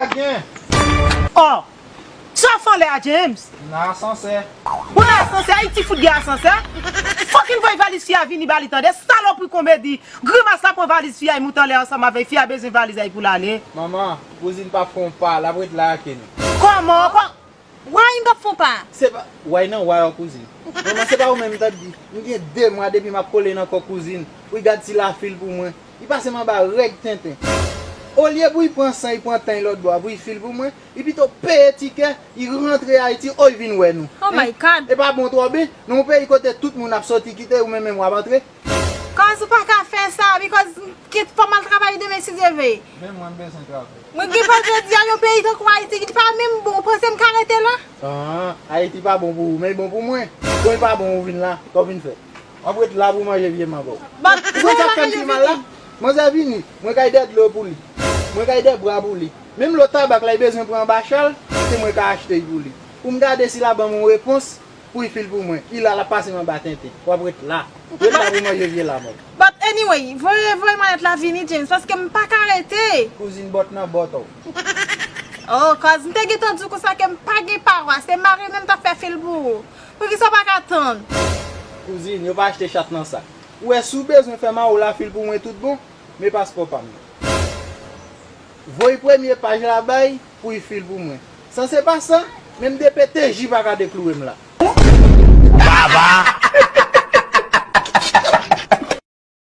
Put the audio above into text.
a gen. Aww Sa fanlè a James. M nan asansè. Ou nan asansè ayiti fout gen asansè Fucking voy valiz fi a vini bali tande salopri komedi grimas la pran valiz fi a y moute anlè ansanm avèy fi a bezwen valiz a y poul ale. Manman, kouzin pap fè yon pa, lap ret la ake nou. Kòman, Wayy m pap fon pa. Se pa way nan way w kouzin. Manman se pa ou menm m tap di. M gen 2 mwa depi map kole nan kò kouzin wi gad ti la fil pou mwen li pasem anba règ tenten olye pou y pran san y pran tan y lòt bò a pou y fil pou mwen li pito peye tikè y rantre ayiti o y vin wè nou hein e pa bon twò ben nan yon peyi kote tout moun ap sòti kite ou menm menm wap antre. Cause ou pa ka fè sa because kit fòm al travay demen si Dye veye. Menm mwen m bezwen travay. Mwen gen pè jodia yon peyi tankou Ayiti li pa menm bon ou panse m ka rete la? Aah Ayiti pa bon pou ou men li bon pou mwen. Kon li pa bon ou vin la, sa w vin fè? Wap ret la pou manje vye mango. Ou konn sak fèm pi mal la? Manzè vini, mwen kay dè dlo pou li, mwen kay dè bwa pou li, menm lo tabak la li bezwen pran anba chal, se mwen ka achte y pou li. Pou m gade si la banm yon repons. Ui fil pou mwen. Ila lap pase m anba tenten. Wap ret la. Ret la pou manje vye lamòt. But anyway, voye voye mallette la vini James paske m pa ka rete. Kouzin bòt nan bòt oh. Oh cause m te gentan di w konsa ke m pa gen pawa, se marine m tap fè fil pou ou. Poukisa w pa ka tann. Kouzin, yo pa achte chat nan sak. Ou wè si w bezwen fè mawo la fil pou mwen tout bon. Men paspò pa m nan. Voye premye paj la bay. pou i fil pou mwen. San se pa sa, menm de pe TJ pa ka dekloure m la. Baba!